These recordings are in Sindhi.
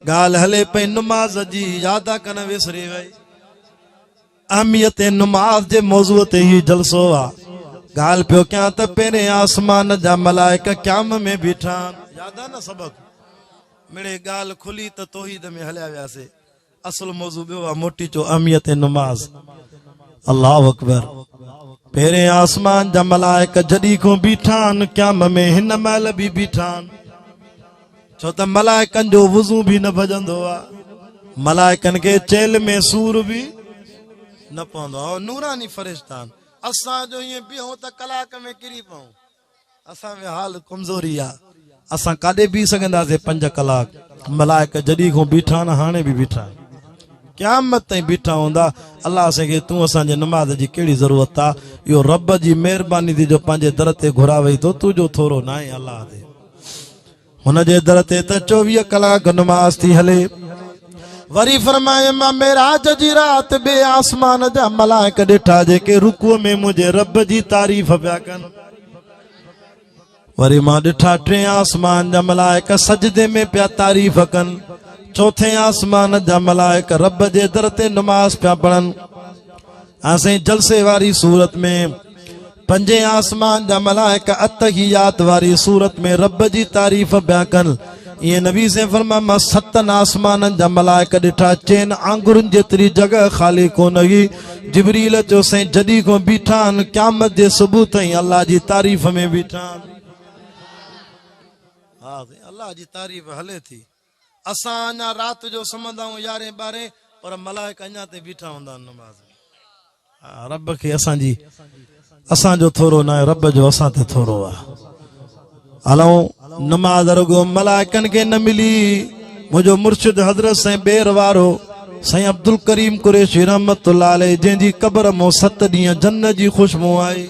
ڳالهه هلي پئي نماز جي ياد آ ڪن وسري وئي اهميت نماز جي موضوع تي هي جلسو آ ڳالهه پيو ڪيان ته پهرين آسمان جا ملائڪه قيام ۾ بيٺا ياد آ نه سبق مڙي ڳالهه کلي ته توحيد ۾ هليا وياسي اصل موضوع ٻيو آ موٽي چو اهميت نماز الله اڪبر پهرين آسمان جا ملائڪه جڏي کون بيٺا ان قيام ۾ هن مهل به بيٺا ڇو ته ملائڪن جو وضو به نه ڀڄندو آ ملائڪن کي چيل ۾ سور به نه پوندو آ نوراني فرشتان اسان جو ائين بيهون ته ڪلاڪ ۾ ڪري پئون اسان ۾ حال کمزوري آ اسان ڪاڏي بيهي سگهنداسين پنج ڪلاڪ ملائڪ جڏي کون بيٺا نه هاڻي به بيٺا قيامت تائين بيٺا هوندا الله اسان کي تون اسان جي نماز جي ڪهڙي ضرورت آ اهو رب جي مهرباني ٿي جو پنهنجي در تي گهراوئي ٿو تون جو ٿورو نه آهي الله تي هن جي در تي ته چوويهه ڪلاڪ نماز ٿي هلي وري فرمائي مان معراج جي رات به آسمان جا ملائڪ ڏٺا جيڪي رڪوع ۾ منهنجي رب جي تعريف پيا ڪن وري مان ڏٺا ٽين آسمان جا ملائڪ سجدي ۾ پيا تعريف ڪن چوٿين آسمان جا ملائڪ رب جي در تي نماز پيا پڙهن اسين جلسي واري صورت ۾ پنجين آسمان جا ملائڪ اتحيات واري صورت ۾ رب جي تعريف بيان ڪن اي نبي سين فرما ما ستن آسمان جا ملائڪ ڏٺا چين آنگرن جيتري جگه خالي ڪون هئي جبريل چو سين جدي کو بيٺا ان قيامت جي صبح تائين الله جي تعريف ۾ بيٺا الله جي تعريف هلي ٿي اسان اڃا رات جو سمهندا آهيون يارهين ٻارهين پر ملائڪ اڃا تائين بيٺا هوندا آهن نماز ۾. رب کي اسان جي اسان جو ٿورو ناهي رب جو اسان تي ٿورو آهي. الائون نماز رڳو ملائڪن کي نه ملي منهنجو مرشد حضرت سائين بير وارو سائين عبدالڪريم قريشي رحمت الله عليه جنهن جي قبر مون ست ڏينهن جنت جي خوشبو آئي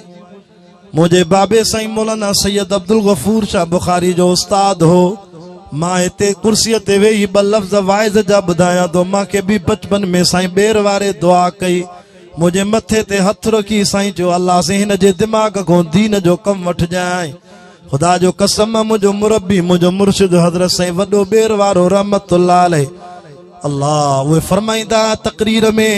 منهنجي بابي سائين مولانا سيد عبدالغفور شاهه بخاري جو استاد هو مان هتي ڪرسي تي ويهي ٻه لفظ واعظ جا ٻڌايان ٿو مان کي به بچپن ۾ سائين ٻير واري دعا ڪئي منهنجي مٿي تي هٿ رکي سائين چيو الله سين هن جي دماغ کان دين جو ڪم وٺجانء خدا جو قسم منهنجو مربي منهنجو مرشد حضرت سائين وڏو ٻير وارو رحمت الله عليه الله اهي فرمائيندا تقرير ۾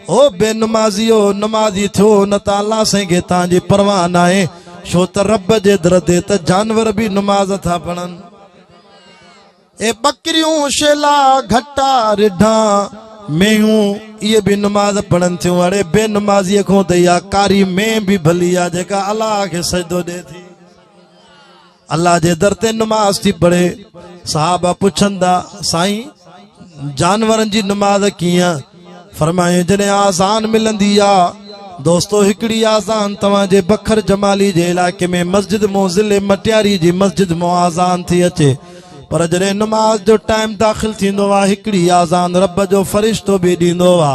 او بي نمازيو نمازي ٿيو نه ته الله سائين کي تان جي پرواهه ناهي ڇو ته رب جي در تي ته جانور به نماز ٿا پڙهن اي ٻڪريون شيلا گهٽا رڍا مينهون اهي به نماز پڙهن ٿيون اڙي بي نمازي کون ته اها ڪاري مين به ڀلي آ جيڪا الله کي سجدو ڏي ٿي الله جي در تي نماز ٿي پڙهي صحابه پڇن ٿا سائين جانورن جي نماز ڪيئن فرمايو جڏهن آزان ملندي آ دوستو هڪڙي آزان توهان جي بکر جمالي جي علائقي ۾ مسجد مون ضلع مٽياري جي مسجد مون آزان ٿي اچي پر جڏهن نماز جو ٽائيم داخل ٿيندو آ هڪڙي آزان رب جو فرشتو به ڏيندو آ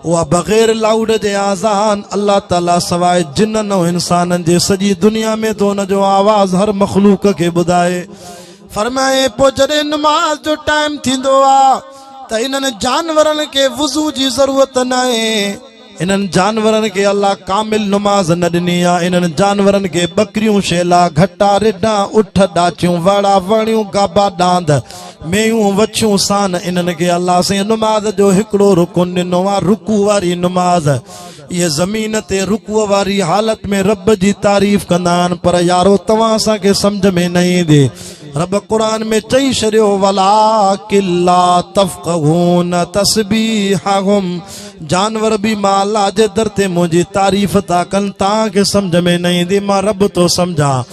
اها بغير لائوڊ جي آذان الله تعالي سواء جنن ۽ انسانن جي سڄي دنيا ۾ ٿو ان جو آواز هر مخلوق کي ٻڌائي فرمائي پوء جڏهن نماز جو ٽائيم ٿيندو آ ته انهن جانورن کي وضو جي ضرورت ناهي انهن جانورن کي الله ڪامل نماز نه ڏني آ انهن جانورن کي ٻڪريون شيلا گهٽا رڍا اٺ ڏاچيون وڙا وڻيون گابا ڏاند ميون وڇون سان انهن کي الله سين نماز جو هڪڙو رڪن ڏنو آ رڪوع واري نماز اهي زمين تي رڪوع واري حالت ۾ رب جي تعريف ڪندا آهن پر يارو توهان اسان کي سمجھ ۾ نه ايندي رب قرآن ۾ چئي شڏيو ولا کلا تفقهون تسبيحهم جانور به مان الله جي در تي منهنجي تعريف ٿا ڪن تان کي سمجھ ۾ نه ايندي مان رب ٿو سمجھان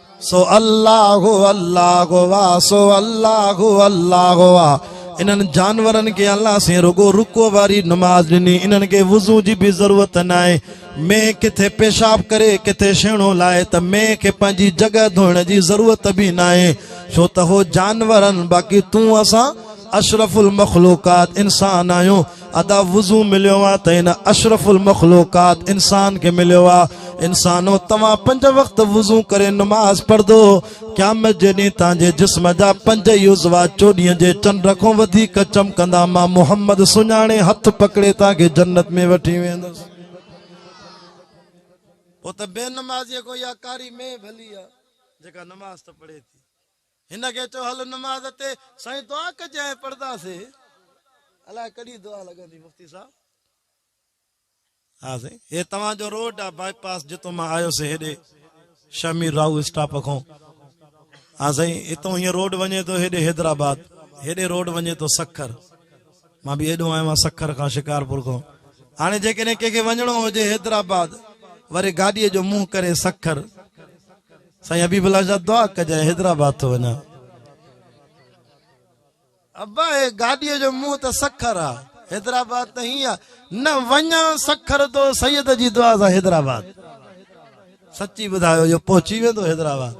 سو الله الله وا سو الله الله وا انهن جانورن کي الله سين رڳو رڪوع واري نماز ڏني انهن کي وضو جي به ضرورت ناهي مين ڪٿي پيشاب ڪري ڪٿي شيڻو لائي ته مين کي پنهنجي جڳهه ڌوئڻ جي ضرورت به ناهي ڇو ته هو جانورن باقي تون اسان اشرف المخلوقات انسان آهيون ادا وضو مليو آ ته هن اشرف المخلوقات انسان کي مليو آ انسانو توهان پنج وقت وضو ڪري نماز پڙهدو قيامت جي ڏينهن تان جي جسم جا پنج يوزوا چوڏينهن جي چنڊ کون وڌيڪ چمڪندا مان محمد سڃاڻي هٿ پڪڙي تان کي جنت ۾ وٺي ويندس او ته بي نمازي ڪو يا ڪاري مين ڀلي آ جيڪا نماز ته پڙهي ٿي هن کي چئو هل نماز تي سائين دعا ڪجانء پڙهنداسين الاء ڪڏهن دعا لڳندي مفتي صاحب. ها سائين هي توهان جو روڊ آ باء پاس جتو مان آيو سي هيڏي شاھ مير راهو اسٽاپ کون ها سائين اتون هيئن روڊ وڃي ٿو هيڏي حيدرآباد هيڏي روڊ وڃي ٿو سکر مان به هيڏو آيو آ سکر کان شڪارپور کون هاڻي جيڪڏهن ڪنهن کي وڃڻو هجي حيدرآباد وري گاڏي جو منهن ڪري سکر سائين حبيب الله شاھ دعا ڪجان حيدرآباد ٿو وڃان ابا اي گاڏي جو منهن ته سکر آ حيدرآباد ته هي آ نه وڃان سکر تو سيد جي دعا سان حيدرآباد سچي ٻڌايو جو پهچي ويندو حيدرآباد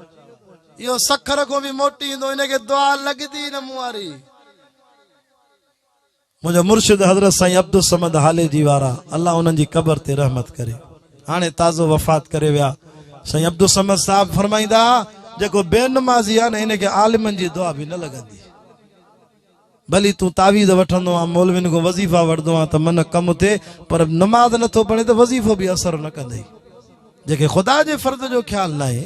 اهو سکر کون به موٽي ايندو ان کي دعا لڳندي نه مون واري منهنجا مرشد حضرت سائين عبدالصمد هاليجي وارا الله انهن جي قبر تي رحمت ڪري هاڻي تازو وفات ڪري ويا سائين عبدالصمد صاحب فرمائيندا ها جيڪو بي نمازي آهي نه ان کي عالمن جي دعا به نه لڳندي ڀلي تون تعويذ وٺندو آ مولوين کان وظيفا وٺندو آ ته من ڪم ٿئي پر نماز نه ٿو پڙهي ته وظيفو به اثر نه ڪندي جيڪي خدا جي فرض جو خيال نه آهي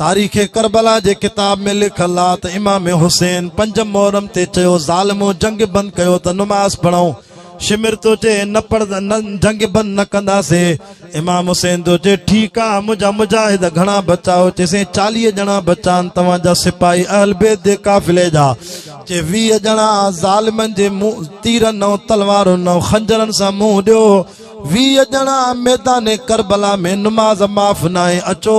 تاريخ ڪربلا جي ڪتاب ۾ لکيل آهي ته امام حسين پنج محرم تي چيو ظالمو جنگ بند ڪيو ته نماز پڙهون شمر ٿو چئي نه پڙ نه جنگ بند نه ڪنداسي امام حسين ٿو چئي ٺيڪ آهي منهنجا مجاهد گهڻا بچايو چي سين چاليهه ڄڻا بچان توهان جا سپاهي اهل بيت جي قافلي جا چي ويهه ڄڻا ظالمن جي منهن تيرن نو تلوارن نو خنجرن سان منهن ڏيو ويهه ڄڻا ميدان ڪربلا ۾ نماز معاف ناهي اچو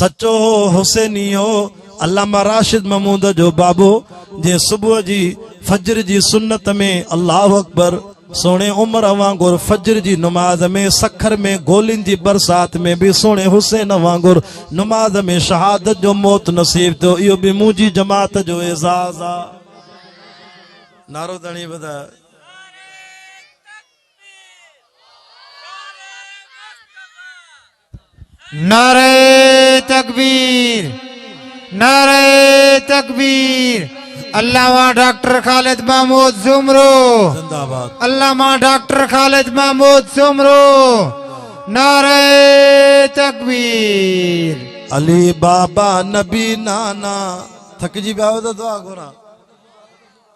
سچو هو حسيني هو علامه راشد محمود جو بابو جنهن صبح جي فجر جي سنت ۾ الله اڪبر سهڻي عمر وانگر فجر جي نماز ۾ سکر ۾ گولين جي برسات ۾ به سهڻي حسين وانگر نماز ۾ شهادت جو موت نصيب ٿيو اهو به منهنجي جماعت جو اعزاز آ نارو دڻي وڌا نعرہ تڪبير نعرہ تڪبير علامه ڊاڪٽر خالد محمود سومرو زندہ باد علامه ڊاڪٽر خالد محمود سومرو نعرہ تڪبير علي بابا نبي نانا ٿڪجي پيا آهيو ته دعا گهرا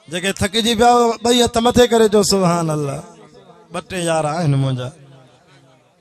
جيڪي ٿڪجي پيا آهيو ٻئي هٿ مٿي ڪري چو سبحان الله ٻه ٽي يار آهن منهنجا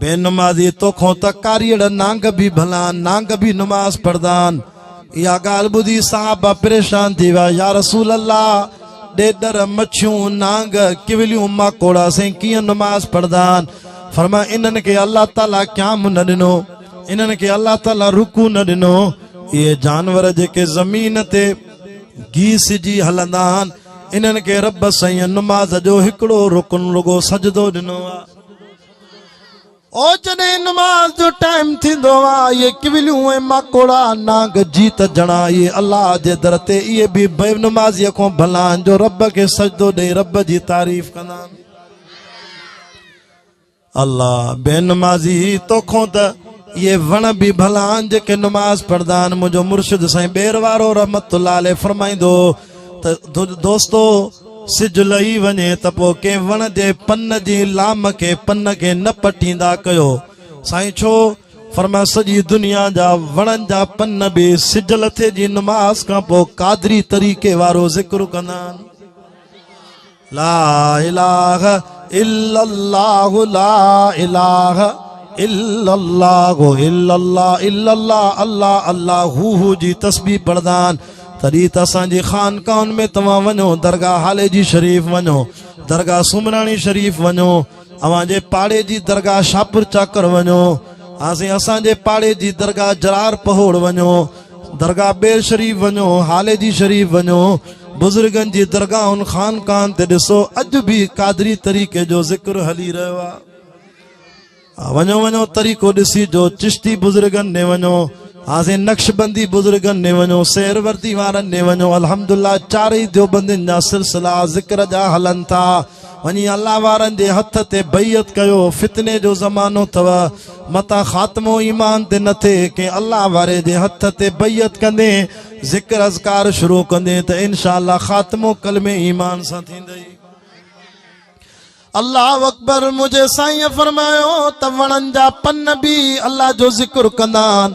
بي نمازي توکون ته ڪاريئڙ نانگ به ڀلان نانگ به نماز پڙهدان اها ڳالهه ٻڌي صحابه پريشان ٿي ويا يا رسول الله ڏيڏر مڇيون نانگ ڪوليون ماڪوڙا سين ڪيئن نماز پڙهدان فرمايو انهن کي الله تعالي قيام نه ڏنو انهن کي الله تعالي رڪوع نه ڏنو اهي جانور جيڪي زمين تي گيسجي هلندا آهن انهن کي رب سائين نماز جو هڪڙو رڪن رڳو سجدو ڏنو آهي او جڏهن نماز جو ٽائيم ٿيندو آ اهي ڪوليون ۽ ماڪوڙا نانگ جيت جڻا اهي الله جي در تي اهي به بي نمازي کون ڀلا آهن جو رب کي سجدو ڏئي رب جي تعريف ڪندا آهن الله بي نمازي توکون ته اهي وڻ به ڀلا آهن جيڪي نماز پڙهندا آهن منهنجو مرشد سائين ٻير وارو رحمت الله عليه فرمائيندو ته دوستو سج لهي وڃي ته پوء ڪنهن وڻ جي پن جي لام کي پن کي نه پٽيندا ڪيو سائين ڇو فرمايو سڄي دنيا جا وڻن جا پن به سج لٿي جي نماز کان پوء قادري طريقي وارو ذڪر ڪندا آهن لا اله الا الله لا اله الا الله الا الله الا الله الله الله هو هو جي تسبيح پڙدان تڏي ته اسان جي خانقاهن ۾ توهان وڃو درگاهه هالي جي شريف وڃو درگاهه سومراڻي شريف وڃو اوهان جي پاڙي جي درگاهه شاهپور چاڪر وڃو هانسين اسان جي پاڙي جي درگاهه جرار پهوڙ وڃو درگاهه ٻير شريف وڃو هالي جي شريف وڃو بزرگن جي درگاهن خانقاهن تي ڏسو اڄ به قادري طريقي جو ذڪر هلي رهيو آهي وڃو وڃو طريقو ڏسي جو چشتي بزرگن ڏي وڃو هاسي نقش بندي بزرگن ڏي وڃو سير وردي وارن ڏي وڃو الحمدلله چارئي ديوبندين جا سلسلا ذڪر جا هلن ٿا وڃي الله وارن جي هٿ تي بيعت ڪيو فتني جو زمانو اٿو متان خاتمو ايمان تي نه ٿئي ڪنهن الله واري جي هٿ تي بيعت ڪندين ذڪر اذڪار شروع ڪندين ته انشاء الله خاتمو ڪلمي ايمان سان ٿيندئي اللہ اکبر مجھے سائیں فرمایا تو وڑن جا پن بھی اللہ جو ذکر کندان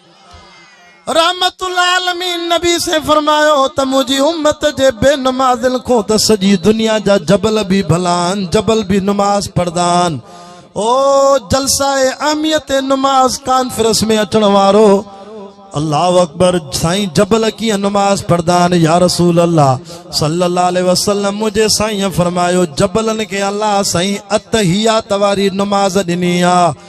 رحمت العالمين نبي سين فرمايو ته منهنجي امت جي بي نمازن کون ته سڄي دنيا جا جبل به ڀلا آهن جبل به نماز پڙهندا آهن او جلسه اهميت نماز ڪانفرنس ۾ اچڻ وارو الله اڪبر سائين جبل ڪيئن نماز پڙهندا آهن يا رسول الله صلي الله عليه وسلم منهنجي سائين فرمايو جبلن کي الله سائين اتحيات واري نماز ڏني آهي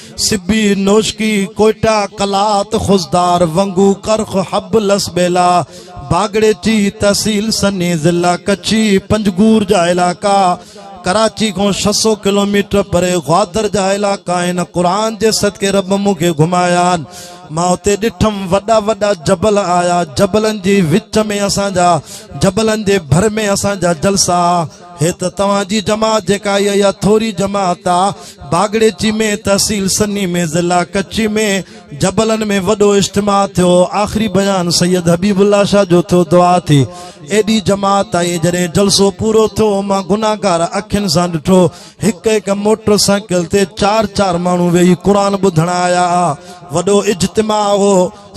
سبي نوشڪي ڪوئٽا قلات خضدار ونگو ڪرخ حب لس ٻيلا باگڙيچي تحصيل سني ضلع ڪڇي پنجگور جا علائقا ڪراچي کان ڇهه سؤ ڪلوميٽر پري گوادر جا علائقا آهن قرآن جي صدقي رب مون کي گهمايا آهن مان اتي ڏٺم وڏا وڏا جبل آيا جبلن جي وچ ۾ اسان جا جبلن جي ڀر ۾ اسان جا جلسا هي ته توهان جي جماعت جيڪا آئي اها ٿوري جماعت آ باگڙيچي ۾ تحصيل سني ۾ ضلع ڪچي ۾ جبلن ۾ وڏو اجتماع ٿيو آخري بيان سيد حبيب الله شاھ جو ٿيو دعا ٿي ايڏي جماعت آئي جڏهن جلسو پورو ٿيو مان گناھگار اکين سان ڏٺو هڪ هڪ موٽر سائيڪل تي چار چار ماڻهو ويهي قرآن ٻڌڻ آيا ها وڏو اجتماع هو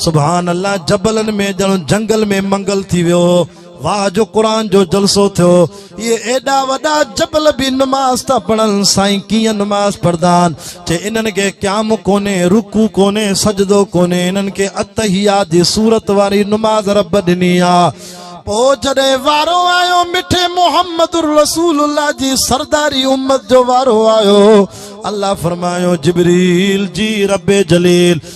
سبحان الله جبلن ۾ ڄڻ جنگل ۾ منگل ٿي ويو هو واھ جو قرآن جو جلسو ٿيو اهي ايڏا وڏا جبل به نماز ٿا پڙهن سائين ڪيئن نماز پڙهندا آهن چي انهن کي قيام ڪونهي رڪوع ڪونهي سجدو ڪونهي انهن کي اتحيات جي صورت واري نماز رب ڏني آ پوء جڏهن وارو آيو مٺي محمد رسول الله جي سرداري امت جو وارو آيو الله فرمايو جبريل جي رب جليل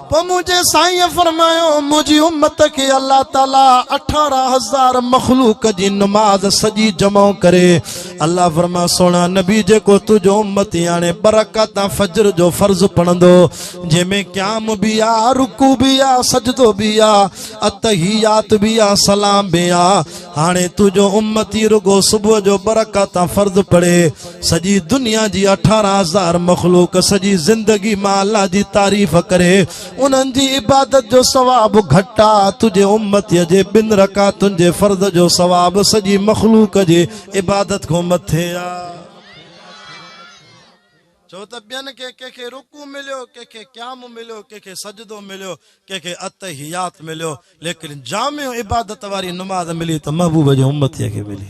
پوء منهنجي سائينء فرمايو، منهنجي امت کي الله تعاليٰ اٺارهن هزار مخلوق جي نماز سڄي جمع ڪري. الله فرمايو، سهڻا نبي جيڪو تنهنجو امتي هاڻي ٻه رڪعتا فجر جو فرض پڙهندو، جنهن ۾ قيام به آ، رڪوع به آ، سجدو به آ، التحيات به آ، سلام به آ، هاڻي تنهنجو امتي رڳو صبح جو ٻه رڪعتا فرض پڙهي. سڄي دنيا جي اٺارهن هزار مخلوق سڄي زندگي مان الله جي تعريف ڪري انهن جي عبادت جو ثواب گهٽ آ تنهنجي امتي جي ٻن رڪعتن جي فرض جو ثواب سڄي مخلوق جي عبادت کان مٿي آ چو ته ٻين کي ڪنهن کي رڪوع مليو ڪنهن کي قيام مليو ڪنهن کي سجدو مليو ڪنهن کي اتحيات مليو ليڪن جامع عبادت واري نماز ملي ته محبوب جي امتي کي ملي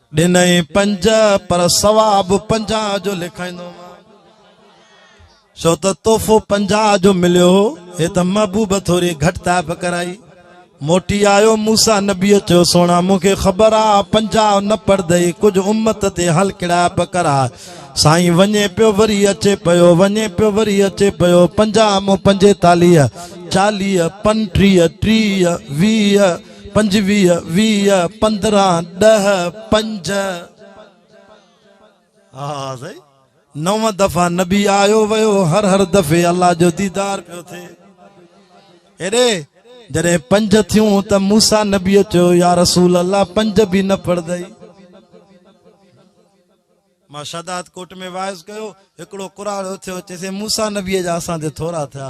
ڏنئي پنج پر ثواب پنجاهه جو لکائيندو مان ڇو ته تحفو پنجاهه جو مليو هو هي ته محبوب ٿوري گهٽتائي به ڪرائي موٽي آيو موسا نبي چيو سونا مون کي خبر آ پنجاهه نه پڙدئي ڪجهه امت تي هل ڪڙائي به ڪرا سائين وڃي پيو وري اچي پيو وڃي پيو وري اچي پيو پنجاهه مون پنجيتاليهه چاليهه پنٽيهه ٽيهه ويهه پنجويهه، ويهه، پندرهن، ڏهه، پنج. ها سائين نو دفعا نبي آيو ويو هر هر دفعي الله جو ديدار پيو ٿئي ايڏي جڏهن پنج ٿيون ته موسا نبي چيو يا رسول الله پنج به نه پڙدئي مان شهداد ڪوٽ ۾ واعظ ڪيو هڪڙو قرآن اٿيو چيسي موسا نبي جا اسان تي ٿورا ٿيا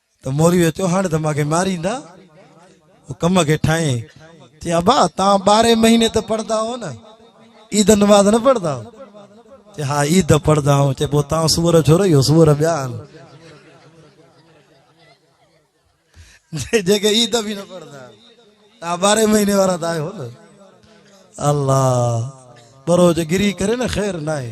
ته موريء جو چوهاڻ ته مان کي ماريندا. هو ڪم کي ٺاهين چي ابا توهان ٻارهين مهيني ته پڙهندا آهو نه؟ عيد نماز نه پڙهندا آهو؟ چي ها عيد پڙهندا آهيون. چي پوء توهان سوئر ڇو رهيو؟ سوئر ٻيا آهن جيڪي عيد به نه پڙهندا آهن. توهان ٻارهين مهيني وارا ته آهيو نه. الله ٻرو جي گري ڪري نه خير ناهي.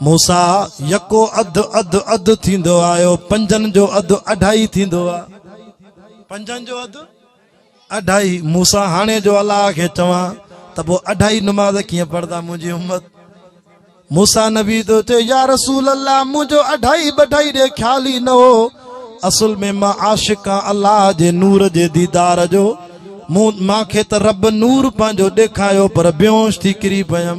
موسيٰ، يڪو اڌ اڌ اڌ ٿيندو آيو، پنجن جو اڌ اڍائي ٿيندو آ. پنجن جو اڌ اڍائي. موسيٰ، هاڻي جو الله کي چوان ته پوء اڍائي نماز ڪيئن پڙهندا منهنجي امت؟ موسيٰ نبي ٿو چئي، يا رسول الله منهنجو اڍائي بڍائي ڏي خيال ئي نه هو. اصل ۾ مان عاشق آن الله جي نور جي ديدار جو. مون کي ته رب نور پنهنجو ڏيکايو پر بيهوش ٿي ڪري پيم.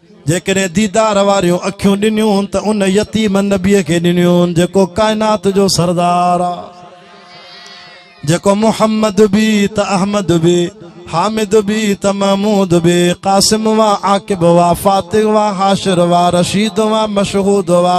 جيڪڏهن ديدار واريون اکيون ڏنيون ته ان يتيم نبي کي ڏنيون جيڪو ڪائنات جو سردار آ جيڪو محمد بي ته احمد بي حامد بي ته محمود بي قاسم وا عاقب وا فاتح وا حاشر وا رشيد وا مشهود وا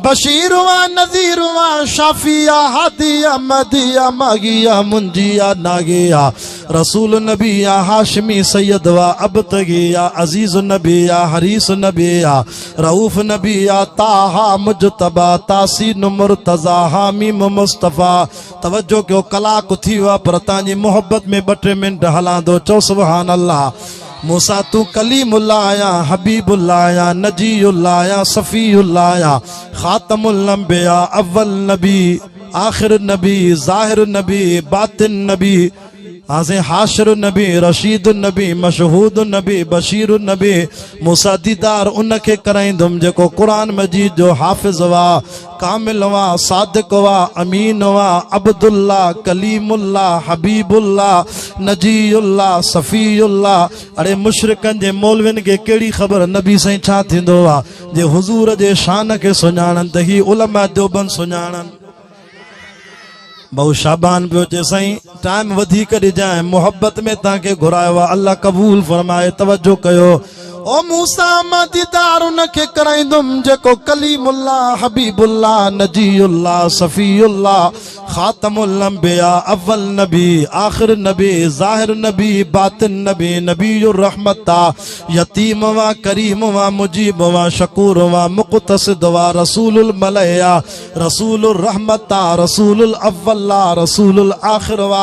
بشير وا نذير وا شافي هادي مدي ماغي منجي ناغي رسول النبي يا هاشمي سيد وا ابتغي يا عزيز النبي يا حريص النبي يا رؤوف النبي يا طه مجتبا تاسين مرتضا حاميم مصطفي توجه ڪيو ڪلاڪ ٿي ويو آهي پر تان جي محبت ۾ ٻه ٽي منٽ هلان ٿو چئو سبحان الله مون سان تون ڪليم الله يا حبيب الله يا نجي الله يا صفي الله يا خاتم الانبياء اول نبي آخر النبي، ظاهر النبي، باطن النبي، هانسين حاشر النبي، رشيد النبي، مشهود النبي، بشير النبي، موسيٰ ديدار ان کي ڪرائيندم جيڪو قرآن مجيد جو حافظ هئا، ڪامل هئا، صادق هئا، امين هئا، عبدالله، ڪليم الله، حبيب الله، نجي الله، صفي الله، اڙي مشرڪن جي مولوين کي ڪهڙي خبر نبي سائين ڇا ٿيندو هئا. جي حضور جي شان کي سڃاڻن ته هي علماء ديوبند سڃاڻن. ڀائو شعبان پيو چي سائين ٽائيم وڌيڪ ڏجانء محبت ۾ تان کي گهرايو آ الله قبول فرمائي توجه ڪيو او موسيٰ مان ديدار ان کي ڪرائيندم جيڪو ڪليم الله حبيب الله نجي الله صفي الله خاتم الانبياء اول نبي آخر نبي ظاهر نبي باطن نبي نبي الرحمت آ يتيم و ڪريم و مجيب و شڪور و مقتصد و رسول الملئ آ رسول الرحمت آ رسول الاول آ رسول الاخر و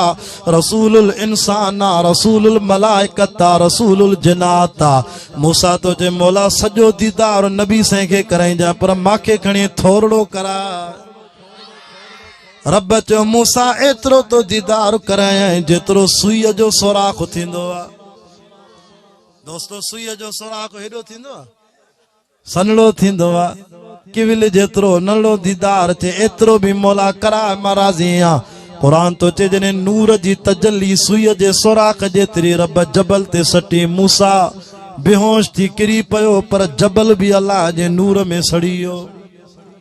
رسول الانسان آ رسول الملائڪت آ رسول الجنات آ موسيٰ تنهنجي مولا سڄو ديدار نبي سائين کي ڪرائينجانء پر مانکي کڻي ٿورڙو ڪرائي رب چيو موسا ايترو تو ديدار ڪرايائين جيترو سوئي جو سوراخ ٿيندو آ دوستو سوئي جو سوراخ هيڏو ٿيندو آ سنڙو ٿيندو آ ڪيول جيترو نڙو ديدار ٿي ايترو به مولا ڪرا مرازي آ قرآن تو چي جني نور جي تجلي سوئي جي سوراخ جيتري رب جبل تي سٽي موسا بيهوش ٿي ڪري پيو پر جبل به الله جي نور ۾ سڙيو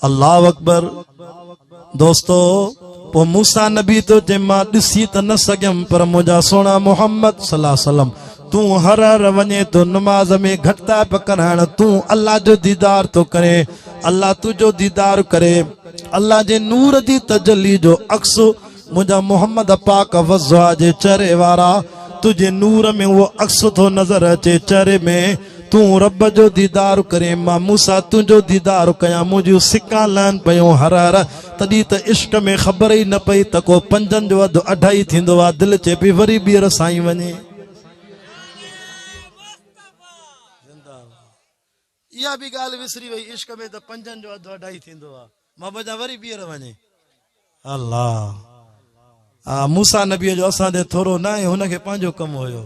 الله اڪبر دوستو پو موسا نبي تو جي ما ڏسي ته نه سگهيم پر منهنجا سهڻا محمد صلي الله عليه وسلم تون هر هر وڃي تو نماز ۾ گهٽتائ پڪ ڪرائڻ تون الله جو ديدار تو ڪرين الله تنهنجو ديدار ڪري الله جي نور جي تجلي جو عڪس منهنجا محمد پاڪ وضع جي چهري وارا تنهنجي نور ۾ اهو عڪس ٿو نظر اچي چهري ۾ تون رب جو ديدار ڪرين مان موسيٰ تنهنجو ديدار ڪيان منهنجيون سڪان لهن پيون هر هر تڏهن ته عشق ۾ خبر ئي نه پئي ته ڪو پنجن جو اڌ اڍائي ٿيندو آ دل چئي پئي وري ٻيهر سائين وڃي اها به ڳالهه وسري وئي عشق ۾ ته پنجن جو اڌ اڍائي ٿيندو آ محبت جا وري ٻيهر وڃي الله آ موسا نبي جو اسان تي ٿورو نه آهي هن کي پنهنجو ڪم هيو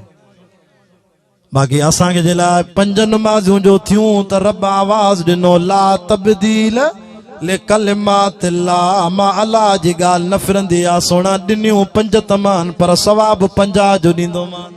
باقي اسان کي جي لاء پنج نمازون جو ٿيون ته رب آواز ڏنو لا تبديل لڪلمات الله ما الله جي ڳالهه نه ڦرندي آ سونا ڏنيون پنج تمان پر ثواب پنجاه جو ڏيندو مان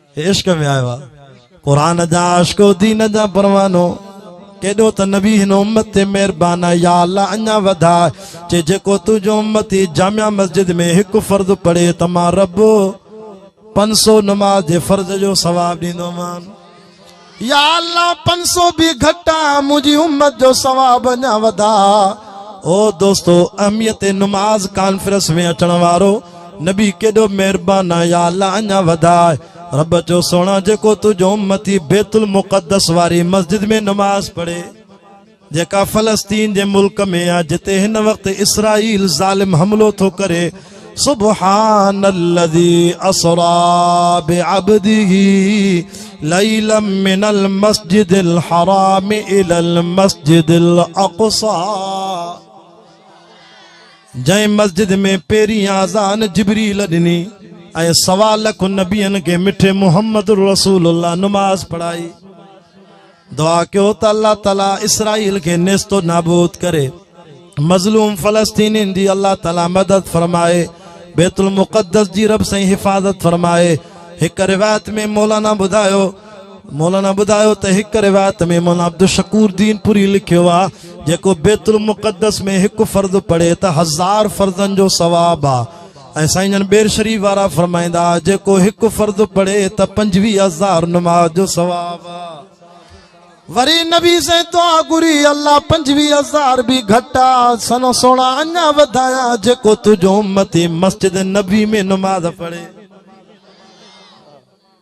عشق ۾ آيو آ قرآن جا عاشقو دين جا پروانو ڪيڏو ته نبي هن امت تي مهربان آهي يا الله اڃا وڌاء چي جيڪو تنهنجو امتي جامع مسجد ۾ هڪ فرض پڙهي ته مان رب پنج سو نماز جي فرض جو ثواب ڏيندومان. يا الله پنج سو به گهٽ آ منهنجي امت جو ثواب اڃا وڌاء او دوستو اهميت نماز ڪانفرنس ۾ اچڻ وارو نبي ڪيڏو مهربان آ يا الله اڃا وڌاء رب چيو سهڻا جيڪو تنهنجو امتي بيت المقدس واري مسجد ۾ نماز پڙهي جيڪا فلسطين جي ملڪ ۾ آ جتي هن وقت اسرائيل ظالم حملو ٿو ڪري سبحان الذي اسرا بعبده ليلا من المسجد الحرام الى المسجد الاقصى جنهن مسجد ۾ پيرين آزان جبري لڏني ۽ سوال لک نبين کي مٺي محمد رسول الله نماز پڙھائي دعا ڪيو ته الله تعالي اسرائيل کي نيست و نابود ڪري مظلوم فلسطينين جي الله تعالي مدد فرمائي بيت المقدس جي رب سائين حفاظت فرمائي هڪ روایت ۾ مولانا ٻڌايو مولانا ٻڌايو ته هڪ روایت ۾ مولانا عبدالشڪور دين پوري لکيو آ جيڪو بيت المقدس ۾ هڪ فرض پڙهي ته هزار فرضن جو ثواب آ ۽ سائين جن ٻير شريف وارا فرمائيندا جيڪو هڪ فرض پڙهي ته پنجويهه هزار نماز جو ثواب وري نبي سائين دعا گري الله پنجويهه هزار به گهٽ آ سن سونا اڃا وڌايا جيڪو تنهنجو امتي مسجد نبي ۾ نماز پڙهي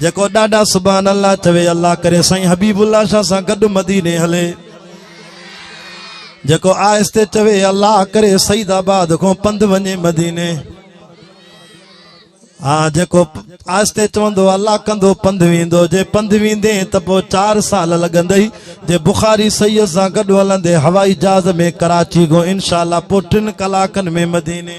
جيڪو ڏاڏا سبحان الله چوي الله ڪري سائين حبيب الله شاھ سان گڏ مديني هلي جيڪو آهستي چوي الله ڪري سيد آباد کون پنڌ وڃي مديني ها جيڪو آهستي چوندو الله ڪندو پنڌ ويندو جي پنڌ ويندي ته پوء چار سال لڳندئي جي بخاري سيد سان گڏ هلندي هوائي جهاز ۾ ڪراچي کان انشاء الله پوء ٽن ڪلاڪن ۾ مديني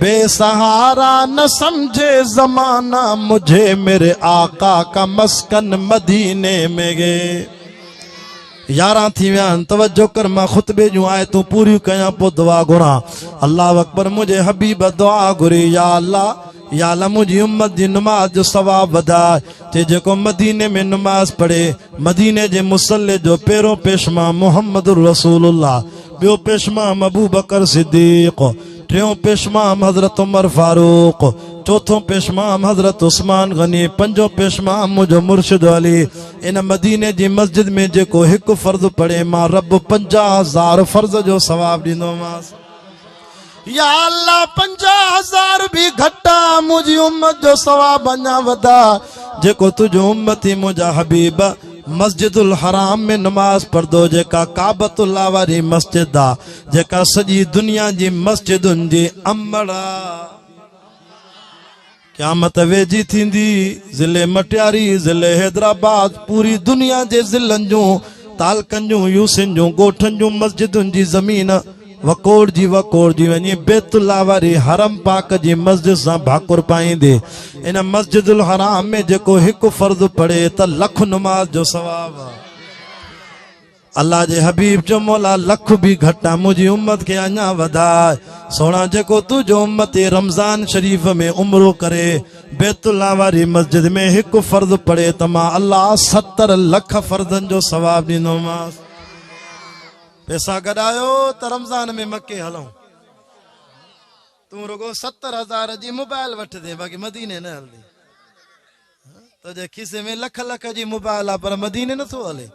بي سهارا نه سمجهي زمانه مجهي ميري آقا ڪا مسڪن مديني مي گي ياران ٿي ويا آهن توجه ڪر مان خطبي جون آيتون پوريون ڪيان پوء دعا گهران الله اڪبر منهنجي حبيب دعا گهري يا الله يا الله منهنجي امت جي نماز جو ثواب وڌاء چي جيڪو مديني ۾ نماز پڙهي مديني جي مصلي جو پيرو پيشمان محمد رسول الله ٻيو پيشمان ابو بڪر صديق ٽيون پيشمام حضرت عمر فاروق چوٿون پيشمام حضرت عثمان غني پنجون پيشمام منهنجو مرشد علي ان مديني جي مسجد ۾ جيڪو هڪ فرض پڙهي مان رب پنجاهه هزار فرض جو ثواب ڏيندومانس يا الله پنجاهه هزار به گهٽ آ منهنجي امت جو ثواب اڃا وڌا جيڪو تنهنجو امتي منهنجا حبيب مسجد الحرام ۾ نماز پڙهندو جيڪا ڪعبت الله واري مسجد آ جيڪا سڄي دنيا جي مسجدن جي امڙ آ قيامت ويجهي ٿيندي ضلع مٽياري ضلع حيدرآباد پوري دنيا جي ضلعن جون تعلقن جون يوسين جون ڳوٺن جون مسجدن جي زمين وڪوڙ جي وڪوڙ جي وڃي بيت الله واري حرم پاڪ جي مسجد سان ڀاڪر پائيندي ان مسجد الحرام ۾ جيڪو هڪ فرض پڙهي ته لک نماز جو ثواب الله جي حبيب چيو مولا لک به گهٽ آ منهنجي امت کي اڃا وڌاء سهڻا جيڪو تنهنجو امتي رمضان شريف ۾ عمرو ڪري بيت الله واري مسجد ۾ هڪ فرض پڙهي ته مان الله ستر لک فرضن جو ثواب ڏيندومانس پيسا گڏايو ته رمضان ۾ مڪي هلون تون رڳو ستر هزار جي موبائل وٺ دي باقي مديني نه هلدي تنهنجي کيسي ۾ لک لک جي موبائل آ پر مديني نه ٿو هلي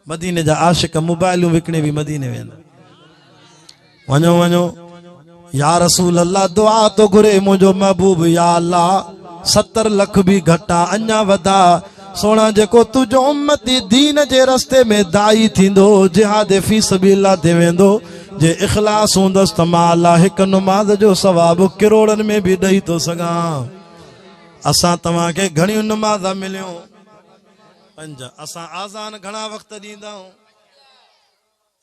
مديني جا عاشق موبائلون وڪڻي به مديني ويندا وڃو وڃو يا رسول الله دعا تو گھري منهنجو محبوب يا الله 70 لک به گھٽا اڃا ودا سونا جيڪو تنهنجو امتي دين جي رستي ۾ داعي ٿيندو جهاد في سبيل الله تي ويندو جي اخلاص هوندس ته مان الله هڪ نماز جو ثواب ڪروڙن ۾ به ڏئي ٿو سگھان اسان توهان کي گهڻيون نماز مليون پنج اسان آزان گهڻا وقت ڏيندا آهيون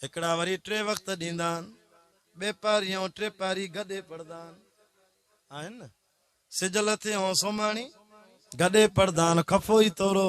هڪڙا وري ٽي وقت ڏيندا آهن ٻي پاري ۽ ٽي پاري گڏي پڙهندا آهن آهن نه سج لٿي ۽ سوماڻي گڏي پڙهندا آهن خفو ئي تورو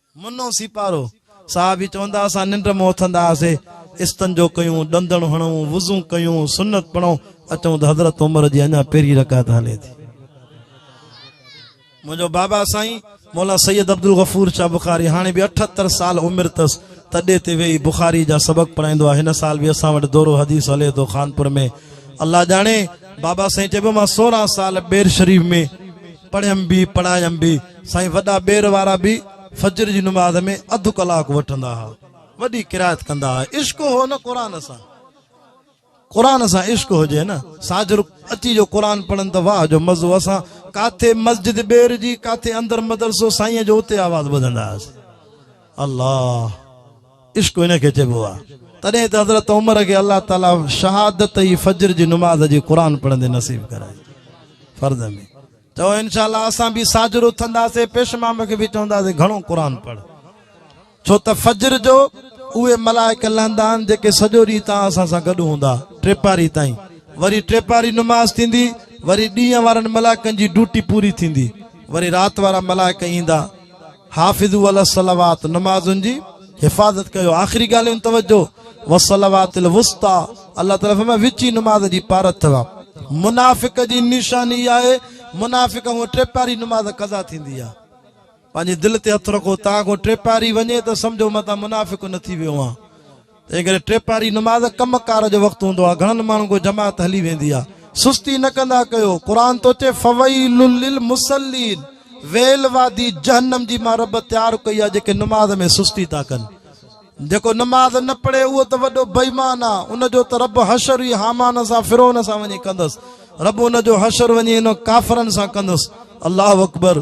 منو سيپارو صاحب به چوندا اسان ننڊ مان اٿندا هئاسي استنجو ڪيون ڏندڻ هڻون وضو ڪيون سنت پڙهون اچون ته حضرت عمر جي اڃا پهرين رڪعت هلي ٿي منهنجو بابا سائين مولا سيد عبدالغفور شاھ بخاري هاڻي به اٺهتر سال عمر تس تڏي تي ويهي بخاري جا سبق پڙهائيندو آهي هن سال به اسان وٽ دورو حديث هلي ٿو خانپور ۾ الله ڄاڻي بابا سائين چئبو مان سورهن سال ٻير شريف ۾ پڙهيم به پڙهايم به سائين وڏا ٻير وارا به فجر جي نماز ۾ اڌ ڪلاڪ وٺندا ها وڏي قرائت ڪندا ها عشق هو نه قرآن سان قرآن سان عشق هجي نه ساجر اچي جو قرآن پڙهن ته واهه جو مزو اسان ڪاٿي مسجد ٻير جي ڪاٿي اندر مدرسو سائين جو اتي آواز ٻڌندا هئاسين الله عشق ان کي چئبو آهي. تڏهن ته حضرت عمر کي الله تعالي شهادت ئي فجر جي نماز جي قرآن پڙهندي نصيب ڪرائي. فرض ۾. چئو انشاء الله اسان به ساجھر اٿنداسين پيش مام کي به چونداسين گھڻو قرآن پڙهه. ڇو ته فجر جو اهي ملائڪ لهندا آهن جيڪي سڄو ڏينهن تان اسان سان گڏ هوندا ٽيپاري تائين. وري ٽيپاري نماز ٿيندي وري ڏينهن وارن ملائڪن جي ڊوٽي پوري ٿيندي وري رات وارا ملائڪ ايندا. حافظو علي الصلوات نمازن جي حفاظت ڪيو آخري ڳالهيون توجه والصلوات الوسطى الله تعالي فرمايو وچي نماز جي پارت ٿوا منافق جي نشاني آهي منافق هو ٽي پاري نماز قضا ٿيندي آهي پنهنجي دل تي هٿ رکو تان کو ٽي پاري وڃي ته سمجھو متان منافق نه ٿي ويو آهي تنهن ڪري ٽي پهري نماز ڪم ڪار جو وقت هوندو آهي گهڻن ماڻهن ڪو جماعت هلي ويندي آهي سستي نه ڪندا ڪيو قرآن ٿو چئي فويل للمصلين ويل وادي جهنم جي مان رب تيار ڪئي آهي جيڪي نماز ۾ سستي ٿا ڪن جيڪو نماز نه پڙهي اهو ته وڏو بيمان آهي ان جو ته رب حشر ئي حامان سان فرعون سان وڃي ڪندس رب ان جو حشر وڃي ان ڪافرن سان ڪندس الله اڪبر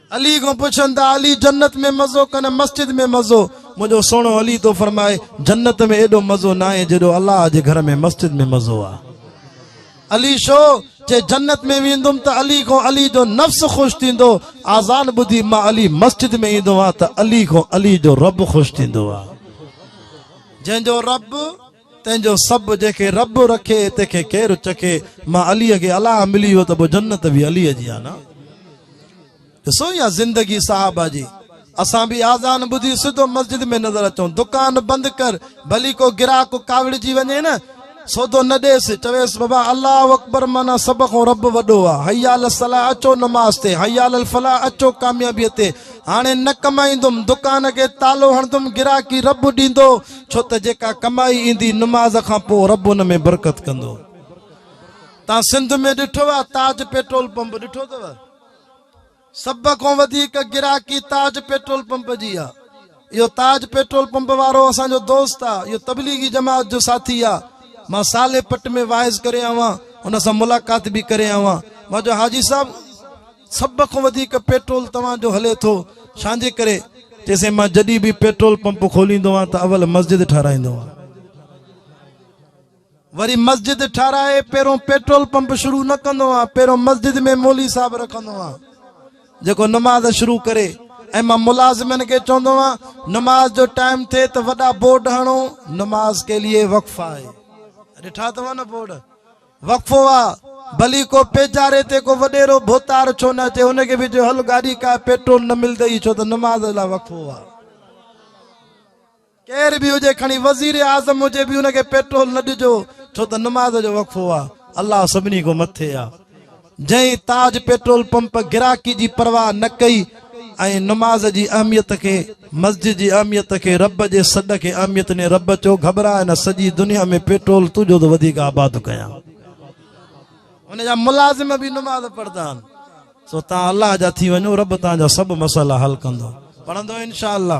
علي کان پڇن ته علي جنت ۾ مزو ڪنه مسجد ۾ مزو؟ منهنجو سهڻو علي ٿو فرمائي جنت ۾ ايڏو مزو ناهي جيڏو الله جي گهر ۾ مسجد ۾ مزو آ. علي شو جي جنت ۾ ويندم ته علي کان علي جو نفس خوش ٿيندو آذان ٻڌي مان علي مسجد ۾ ايندو آ ته علي کان علي جو رب خوش ٿيندو آ جنهن جو رب تنهن جو سڀ جنهن کي رب رکي تنهن کي ڪير چکي مان علي کي الاء ملي ويو ته پوء جنت به علي جي آهي نه ڏسو يا زندگي صحابه جي اسان به آزان ٻڌي سڌو مسجد ۾ نظر اچو دڪان بند ڪر ڀلي ڪو گراهڪ ڪاوڙجي وڃي نه سودو نه ڏيس چويس بابا الله اڪبر مانا سڀ کان رب وڏو آهي حيال الصلاح اچو نماز تي حيال الفلاح اچو ڪاميابي تي هاڻي نه ڪمائيندم دڪان کي تالو هڻندم گراهڪي رب ڏيندو ڇو ته جيڪا ڪمائي ايندي نماز کان پوء رب ان ۾ برڪت ڪندو. تان سنڌ ۾ ڏٺو آ تاج پيٽرول پمپ ڏٺو اٿو سڀ کان وڌيڪ گراڪي تاج پيٽرول پمپ جي آ اهو تاج پيٽرول پمپ وارو اسان جو دوست آ اهو تبليغي جماعت جو ساٿي آ مان صالح پٽ ۾ واعظ ڪري آوان ان سان ملاقات به ڪري آوان مان جو حاجي صاحب سڀ کان وڌيڪ پيٽرول توهان جو هلي ٿو ڇانجي ڪري؟ چيسين مان جڏهن به پيٽرول پمپ کوليندو آهيان ته اول مسجد ٺهرائيندو آهيان وري مسجد ٺهرائي پهريون پيٽرول پمپ شروع نه ڪندو آهيان پهريون مسجد ۾ مولي صاحب رکندو آهيان جيڪو نماز شروع ڪري ۽ مان ملازمن کي چوندو آهيان نماز جو ٽائيم ٿئي ته وڏا بورڊ هڻو نماز ڪي لئي وقف آهي ڏٺا اٿو نه بورڊ وقفو آ ڀلي ڪو پيچاري تي ڪو وڏيرو ڀوتار ڇو نه اچي ان کي به چئو هل گاڏي ڪاء پيٽرول نه ملدئي ڇو ته نماز لاء وقفو آ ڪير به هجي کڻي وزير اعظم هجي به ان کي پيٽرول نه ڏجو ڇو ته نماز جو وقفو آ الله سڀني کان مٿي آ جنهن تاج پيٽرول پمپ گراڪي جي پرواهه نه ڪئي ۽ نماز جي اهميت کي مسجد جي اهميت کي رب جي سڏ کي اهميت ڏني رب چيو گهٻرائي نه سڄي دنيا ۾ پيٽرول تون جو ته وڌيڪ آباد ڪيان ان جا ملازم به نماز پڙهندا آهن سو تان الله جا ٿي وڃو رب تان جا سڀ مسئلا حل ڪندو پڙهندو انشاءالله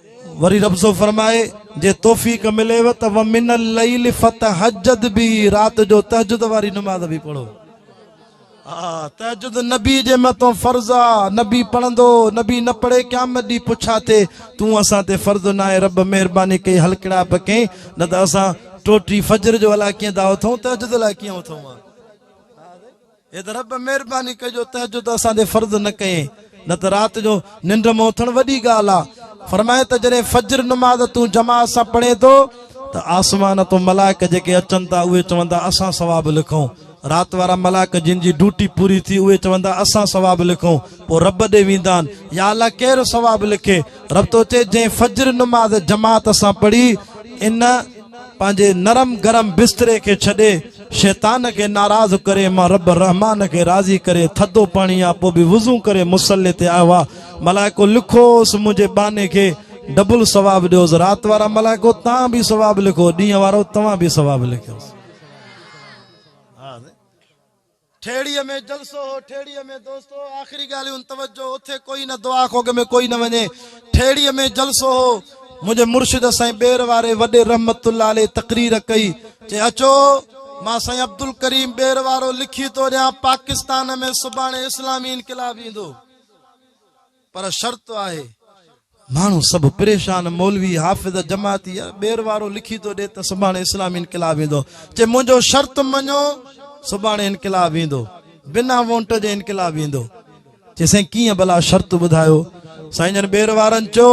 وري رب ٿو فرمائي، جي توفيق مليو ته ومن الليل فتهجد به رات جو تهجد واري نماز به پڙهو. ها تهجد نبي جي مٿان فرض آ، نبي پڙهندو، نبي نه پڙهي قيامت ڏينهن پڇا ٿئي، تون اسان تي فرض ناهي، رب مهرباني ڪئي هلڪڙائپ ڪئين، نه ته اسان ٽوٽي فجر جو الاء ڪيئن ٿا اٿون، تهجد الاء ڪيئن اٿون ها. اي ته رب مھرباني ڪر جو تهجد اسان تي فرض نه ڪئين نه ته رات جو ننڊ مان اٿڻ وڏي ڳالهه آ فرمائي ته جڏهن فجر نماز تون جماعت سان پڙهين ٿو ته آسمان تون ملائڪ جيڪي اچن ٿا اهي چوندا اسان ثواب لکون رات وارا ملائڪ جن جي ڊيوٽي پوري ٿي اهي چوندا اسان ثواب لکون پوء رب ڏي ويندا آهن يا الله ڪير ثواب لکي رب ٿو چئي جنهن فجر نماز جماعت سان پڙهي ان پنهنجي نرم گرم بستري کي ڇڏي شيطان کي ناراض ڪري مان رب الرحمان کي راضي ڪري ٿڌو پاڻي يا پوء به وضو ڪري مصلي تي آيو ها ملائڪو لکوس منهنجي ٻانهي کي ڊبل ثواب ڏيوس رات وارا ملائڪو تان به ثواب لکو ڏينهن وارو توهان به ثواب لکيوس ٺيڙهي ۾ جلسو هو ٺيڙهي ۾ دوستو آخري ڳالهيون توجه اٿي ڪوئي نه دعا کوڳ ۾ ڪوئي نه وڃي ٺيڙهي ۾ جلسو هو منهنجي مرشد سائين ٻير واري وڏي رحمت الله عليه تقرير ڪئي چي اچو مان سائين عبدالڪريم ٻير وارو لکي ٿو ڏيان پاڪستان ۾ سڀاڻي اسلامي انقلاب ايندو. پر شرط آهي. ماڻهو سڀ پريشان مولوي حافظ جماعتي يار ٻير وارو لکي ٿو ڏي ته سڀاڻي اسلامي انقلاب ايندو چي منهنجو شرط مڃو سڀاڻي انقلاب ايندو بنا وونٽ جي انقلاب ايندو چي سائين ڪيئن ڀلا شرط ٻڌايو سائين جن ٻير وارن چيو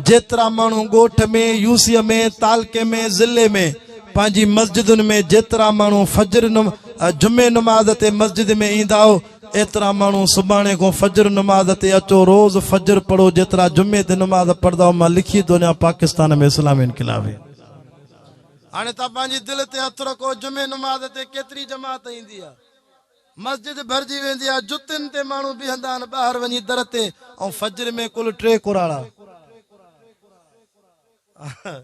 جيترا ماڻهو ڳوٺ ۾، يوسيء ۾، تعلقي ۾، ضلعي ۾، پنهنجي مسجدن ۾ جيترا ماڻهو فجر، جمعي نماز تي مسجد ۾ ايندا هو، ايترا ماڻهو سڀاڻي کان فجر نماز تي اچو، روز فجر پڙهو، جيترا جمعي تي نماز پڙهندا هئا، مان لکي ٿو ڏيان پاڪستان ۾ اسلامي انقلاب هي. هاڻي توهان پنهنجي دل تي هٿ رکو، جمعي نماز تي ڪيتري جماعت ايندي آهي؟ مسجد ڀرجي ويندي آ جتين تي ماڻهو بيهندا آهن ٻاهر وڃي در تي ۽ فجر ۾ ڪل ٽي ڪراڙا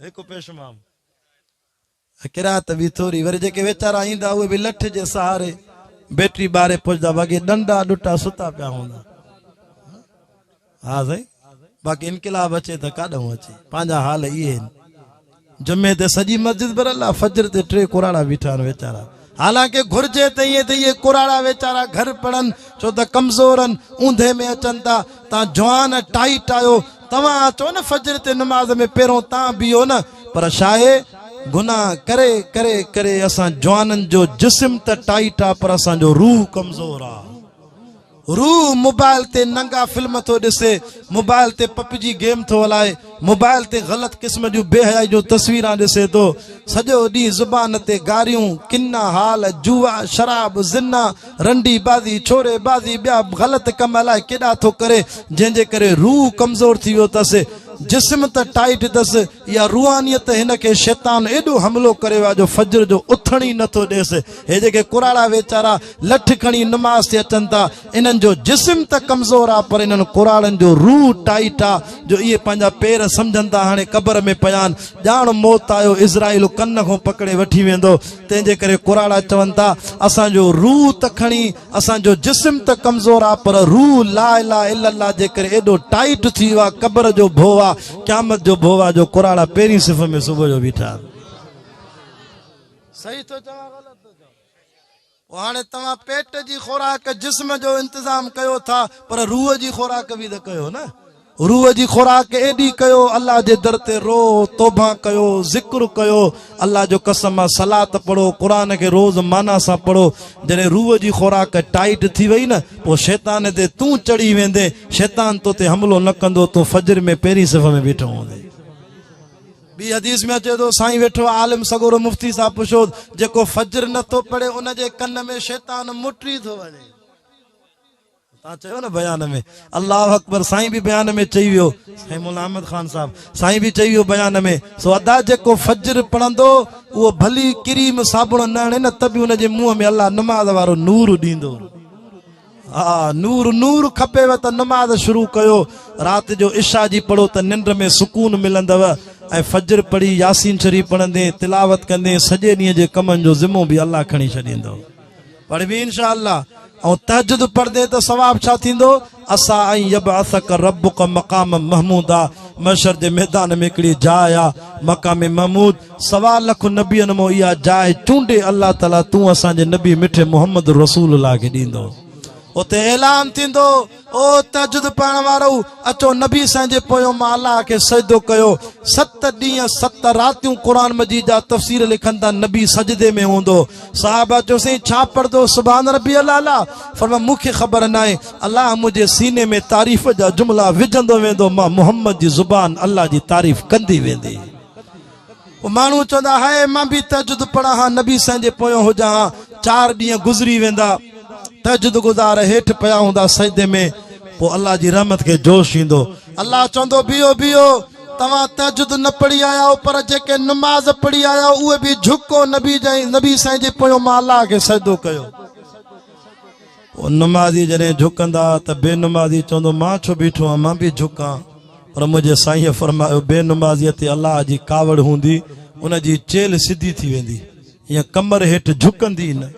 هڪ پيشمام قرات به ٿوري وري جيڪي ويچارا ايندا اهي به لٺ جي سهاري بيٽري ٻاري پهچدا وڳي ڏنڊا ڏٽا ستا پيا هوندا ها سائين باقي انقلاب اچي ته ڪاڏهون اچي پنهنجا حال اهي آهن جمعي تي سڄي مسجد برل آ فجر تي ٽي ڪراڙا بيٺا آهن ويچارا حالانڪه گهرجي ته ائين ته اهي ڪراڙا ويچارا گهر پڙن ڇو ته ڪمزور آهن اوندهه ۾ اچن ٿا تان جوان ٽائيٽ آهيو توهان اچو نه فجر تي نماز ۾ پهرون تان بيهو نه پر شاهي گناهه ڪري ڪري ڪري اسان جوانن جو جسم ته ٽائيٽ آ پر اسان جو روح ڪمزور آ روح موبائل تي ننگا فلم ٿو ڏسي، موبائل تي پپ جي گيم ٿو هلائي، موبائل تي غلط قسم جون بي حيائي جون تصويران ڏسي ٿو، سڄو ڏينهن زبان تي گاريون، ڪنا، حال، جوا، شراب، زنا، رنڊي بازي، ڇوري بازي ٻيا به غلط ڪم الائي ڪيڏا ٿو ڪري، جنهن جي ڪري روح ڪمزور ٿي ويو اٿس، جسم ته ٽائيٽ اٿس، اها روحانيت ته هن کي شيطان ايڏو حملو ڪري ويو آهي جو فجر جو اٿڻ ئي نه ٿو ڏيس، هي جيڪي ڪراڙا ويچارا. لٺ کڻي نماز تي اچن ٿا انهن جو جسم ته ڪمزور آ پر انهن ڪراڙن جو روح ٽائيٽ آ جو اهي پنهنجا پير سمجهن ٿا هاڻي قبر ۾ پيا آهن ڄاڻ موت آيو اسرائيل ڪن کون پڪڙي وٺي ويندو تنهن جي ڪري ڪراڙا چون ٿا اسان جو روح ته کڻي اسان جو جسم ته ڪمزور آ پر روح لا اله الا الله جي ڪري ايڏو ٽائيٽ ٿي ويو آ قبر جو ڀو آ قيامت جو ڀو آ جو ڪراڙا پهرين صف ۾ صبح جو بيٺا صحيح ٿو چوان غلط هاڻي توهان پيٽ جي خوراڪ جسم جو انتظام ڪيو ٿا پر روح جي خوراڪ به ته ڪيو نه روح جي خوراڪ ايڏي ڪيو الله جي در تي رو توبه ڪيو ذڪر ڪيو الله جو قسم آ صلات پڙهو قرآن کي روز معنيٰ سان پڙهو جڏهن روح جي خوراڪ ٽائيٽ ٿي وئي نه پوء شيطان تي تون چڙهي ويندين شيطان تو تي حملو نه ڪندو تون فجر ۾ پهرين صف ۾ بيٺو هوندين ٻي حديث ۾ اچي ٿو سائين ويٺو آهي عالم سڳورو مفتي صاحب پڇوس جيڪو فجر نه ٿو پڙهي ان جي ڪن ۾ شيطان مٽي ٿو وڃي تان چيو نه بيان ۾ الله اڪبر سائين به بيان ۾ چئي ويو سائين مولا احمد خان صاحب سائين به چئي ويو بيان ۾ سو ادا جيڪو فجر پڙهندو اهو ڀلي ڪريم صابڻ نه هڻي نه ته به ان جي منهن ۾ الله نماز وارو نور ڏيندو ها نور نور کپيو ته نماز شروع ڪيو رات جو عشا جي پڙهو ته ننڊ ۾ سڪون ملندو ۽ فجر پڙهي ياسين شريف پڙهندين تلاوت ڪندين سڄي ڏينهن جي ڪمن جو ذمو به الله کڻي ڇڏيندو پڙهبي انشاء الله ۽ تهجد پڙهندين ته ثواب ڇا ٿيندو عسى ان يبعثك ربك مقاما محمودا محشر جي ميدان ۾ هڪڙي جاء آ مقام محمود سوا لک نبين مون اها جاء چونڊي الله تعالي تون اسان جي نبي مٺي محمد رسول الله کي ڏيندو اتي اعلان ٿيندو او تهجد پڙهڻ وارو اچو نبي سائين جي پويو مان الله کي سجدو ڪيو ست ڏينهن ست راتيون قرآن مجيد جا تفسير لکن ٿا نبي سجدي ۾ هوندو صحابه چيو سائين ڇا پڙهندو سبحان ربي الاعلى فرمايو مون کي خبر ناهي الله منهنجي سيني ۾ تعريف جا جملا وجهندو ويندو مان محمد جي زبان الله جي تعريف ڪندي ويندي ماڻهو چوندا هاء مان به تهجد پڙهان ها نبي سائين جي پويان هجان ها چار ڏينهن گذري ويندا تهجد گذار هيٺ پيا هوندا سجدي ۾ پوء الله جي رحمت کي جوش ايندو الله چوندو بيهو بيهو توهان تهجد نه پڙهي آيا آهو پر جيڪي نماز پڙهي آيا آهو اهي به جهڪو نبي جي نبي سائين جي پويان مان الله کي سجدو ڪيو هو نمازي جڏهن جهڪندا ها ته بي نمازي چوندو مان ڇو بيٺو آهيان مان به جهڪان پر منهنجي سائينء فرمايو بي نمازيء تي الله جي ڪاوڙ هوندي ان جي چيلهه سڌي ٿي ويندي ۽ ڪمر هيٺ جهڪندي نه.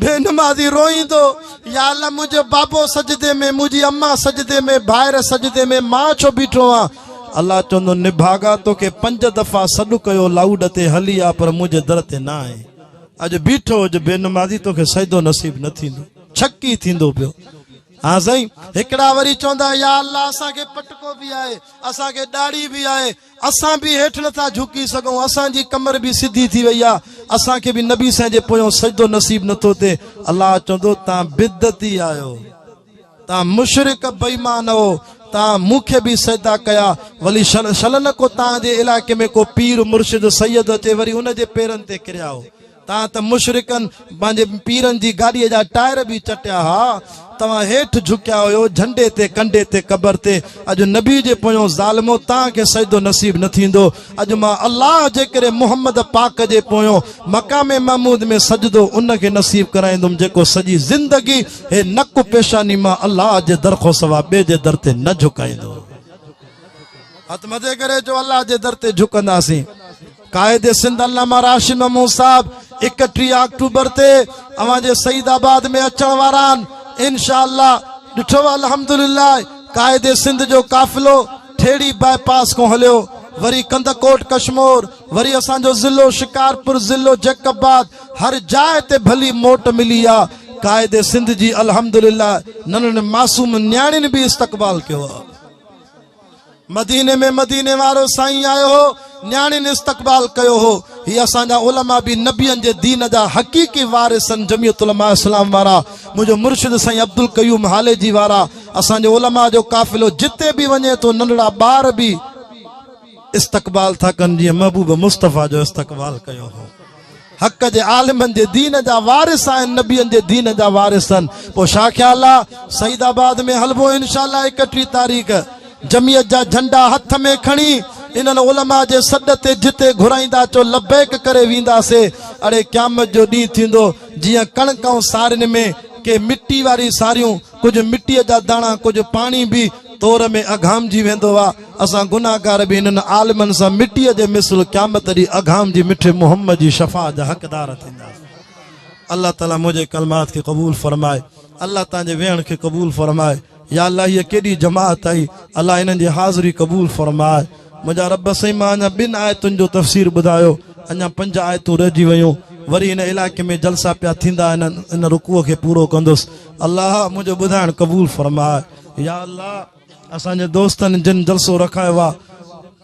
بي نمازي روئيندو، يا الله منهنجو بابو سجدي ۾ منهنجي اما سجدي ۾ ڀائر سجدي ۾ مان ڇو بيٺو آهيان الله چوندو نڀاڳا توکي پنج دفعا سڏ ڪيو لاؤڊ تي هلي آ پر منهنجي در تي نه آئين. اڄ بيٺو هج بي نمازي توکي سجدو نصيب نه ٿيندو ڇڪي ٿيندو پيو ها سائين هڪڙا وري چوندا يا الله اسان کي پٽڪو به آهي اسان کي ڏاڙي به آهي اسان به هيٺ نٿا جھڪي سگھون اسان جي ڪمر به سڌي ٿي وئي آهي اسان کي به نبي سائين جي پويان سجدو نصيب نٿو ٿئي الله چوندو تان بدعتي آهيو تان مشرڪ بيمان او تان مون کي به سجدا ڪيا ولي شلن ڪو تان جي علاقي ۾ ڪو پير مرشد سيد اچي وري ان جي پيرن تي ڪريا او تان ته مشرڪن پنهنجي پيرن جي گاڏي جا ٽائر به چٽيا ها توهان هيٺ جھڪيا هيو جھنڊي تي ڪنڊي تي قبر تي اڄ نبي جي پويون ظالمو تان کي سجدو نصيب نه ٿيندو اڄ مان الله جي ڪري محمد پاڪ جي پويون مقام محمود ۾ سجدو ان کي نصيب ڪرائيندم جيڪو سڄي زندگي هي نڪ پيشاني مان الله جي در کان سوا ٻئي جي در تي نه جهڪائيندو. هٿ مٿي ڪري چئو الله جي در تي جهڪنداسين. قائد سنڌ علامه راشد محمود صاحب اڪٽيهه آڪٽوبر تي اوهان جي سعيد آباد ۾ اچڻ وارا آهن انشاء الله ڏٺو الحمدلله قائد سنڌ جو قافلو ٺيڙهي باء پاس کان هليو وري ڪنڌڪوٽ ڪشمور وري اسان جو ضلعو شڪارپور ضلعو جيڪب آباد هر جاء تي ڀلي موٽ ملي آ قائد سنڌ جي الحمدلله ننھن معصوم نياڻين به استقبال ڪيو آ مديني ۾ مديني وارو سائين آيو هو نياڻين استقبال ڪيو هو هي اسان جا علماء به نبين جي دين جا حقيقي وارثن جميعت علماء اسلام وارا منھنجو مرشد سائين عبدالقيوم هاليجي وارا اسان جي علماء جو قافلو جتي به وڃي ٿو ننھڙا ٻار به استقبال ٿا ڪن جيئن محبوب مصطفيٰ جو استقبال ڪيو هو حق جي عالمن جي دين جا وارث آهن نبين جي دين جا وارث آهن پوء شاهه خيال آ سعيد آباد ۾ هلبو انشاءالله 31 تاريخ جمعيت جا جھنڊا هٿ ۾ کڻي انهن علماء جي سڏ تي جتي گھرائيندا چو لبيڪ ڪري وينداسي اڙي قيامت جو ڏينهن ٿيندو جيئن ڪڻڪ ۽ سارين ۾ ڪي مٽي واري ساريون ڪجهه مٽيء جا داڻا، ڪجهه پاڻي به تور ۾ اگهامجي ويندو آ. اسان گنهگار به انهن عالمن سان مٽيء جي مثل قيامت ڏينهن اگهامجي مٺي محمد جي شفاعت جا حقدار ٿينداسين. الله تعاليٰ منهنجي ڪلمات کي قبول فرمائي. الله توهان جي ويهڻ کي قبول فرمائي. يا الله هيء ڪيڏي جماعت آهي. الله انهن جي حاضري قبول فرماء. منهنجا رب سائين مان اڃا ٻن آيتن جو تفسير ٻڌايو اڃا پنج آيتون رهجي ويون وري هن علائقي ۾ جلسا پيا ٿيندا آهن ان رڪوع کي پورو ڪندس الله منهنجو ٻڌائڻ قبول فرماء يا الله اسان جي دوستن جن جلسو رکايو آ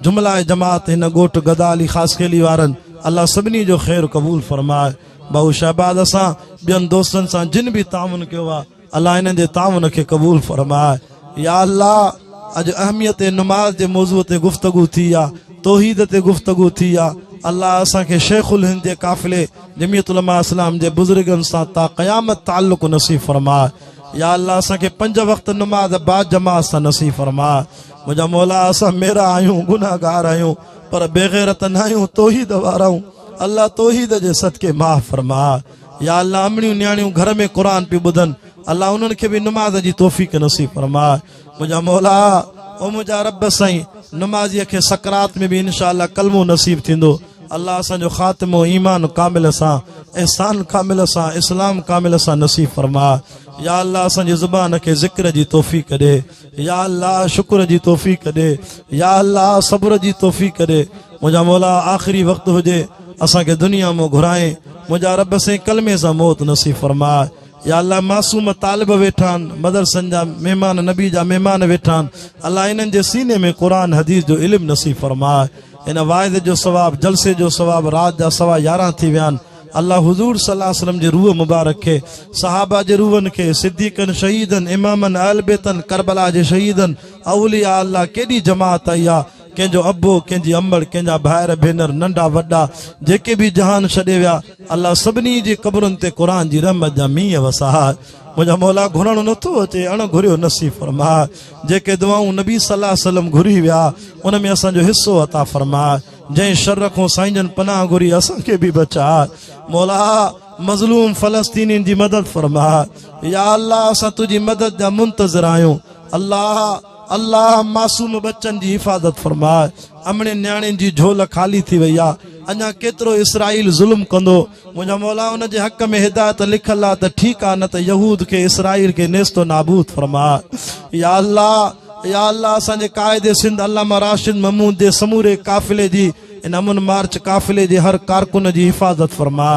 جمله جماعت هن ڳوٺ گدا علي خاص خيلي وارن الله سڀني جو خير قبول فرماء بهو شهباز اسان ٻين دوستن سان جن به تعاون ڪيو آ الله انهن جي تعاون کي قبول فرماء يا الله اڄ اهميت نماز جي موضوع تي گفتگو ٿي يا توحيد تي گفتگو ٿي يا الله اسان کي شيخ الهند جي قافلي جميعت علماء اسلام جي بزرگن سان تا قيامت تعلق نصيب فرماء يا الله اسان کي پنج وقت نماز با جماعت سان نصيب فرماء منهنجا مولا اسان ميرا آهيون گناهگار آهيون پر بيغيرت ناهيون توحيد وارا آهيون الله توحيد جي صدقي معاف فرماء يا الله امڙيون نياڻيون گهر ۾ قرآن پيون ٻڌن الله انهن کي به نماز جي توفيق نصيب فرماء منهنجا مولا او منهنجا رب سائين نمازيء کي سڪرات ۾ به انشاء الله ڪلمو نصيب ٿيندو الله اسان جو خاتمو ايمان ڪامل سان احسان ڪامل سان اسلام ڪامل سان نصيب فرماء يا الله اسان جي زبان کي ذڪر جي توفيق ڏي يا الله شڪر جي توفيق ڏي يا الله صبر جي توفيق ڏي منهنجا مولا آخري وقت هجي اسان کي دنيا مون گهرائين منهنجا رب سين ڪلمي سان موت نصيب فرماء يا الله معصوم طالب ويٺان مدرسن جا مهمان نبي جا مهمان ويٺان الله انهن جي سيني ۾ قرآن حديث جو علم نصيب فرماء ان واعظ جو ثواب جلسي جو ثواب رات جا سوا يارهن ٿي ويان الله حضور صلي الله عليه وسلم جي روح مبارڪ کي، صحابه جي روحن کي، صديقن، شهيدن، امامن، اهل بيتن، ڪربلا جي شهيدن، اولياء الله ڪيڏي جماعت آئي آ، ڪنهن جو ابو، ڪنهن جي امڙ، ڪنهن جا ڀائر ڀينر، ننڍا وڏا، جيڪي به جهان ڇڏي ويا، الله سڀني جي قبرن تي قرآن جي رحمت جا مينهن وساء. منهنجا مولا گهرڻ نه ٿو اچي، اڻ گهريو نصيب فرماء. جيڪي دعائون نبي صلي الله عليه وسلم گهري ويا، ان ۾ اسان جو حصو عطا فرماء. جنهن شر کون سائين جن پناهه گهري اسان کي به بچاء مولا مظلوم فلسطينين جي مدد فرما يا الله اسان تنهنجي مدد جا منتظر آهيون الله الله معصوم بچن جي حفاظت فرما امڙين نياڻين جي جھول خالي ٿي وئي آ اڃا ڪيترو اسرائيل ظلم ڪندو منهنجا مولا ان جي حق ۾ هدايت لکيل آ ته ٺيڪ آ نه ته يهود کي اسرائيل کي نيست و نابود فرما يا الله يا الله اسان جي قائد سنڌ علامه راشد محمود جي سموري قافلي جي ان امن مارچ قافلي جي هر ڪارڪن جي حفاظت فرما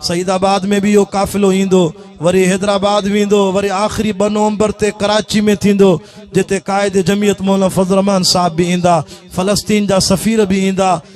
سعيد آباد ۾ به اهو قافلو ايندو وري حيدرآباد ويندو وري آخري ٻه نومبر تي ڪراچي ۾ ٿيندو جتي قائد جميعت مولانا فضل الرحمان صاحب به ايندا فلسطين جا سفير به ايندا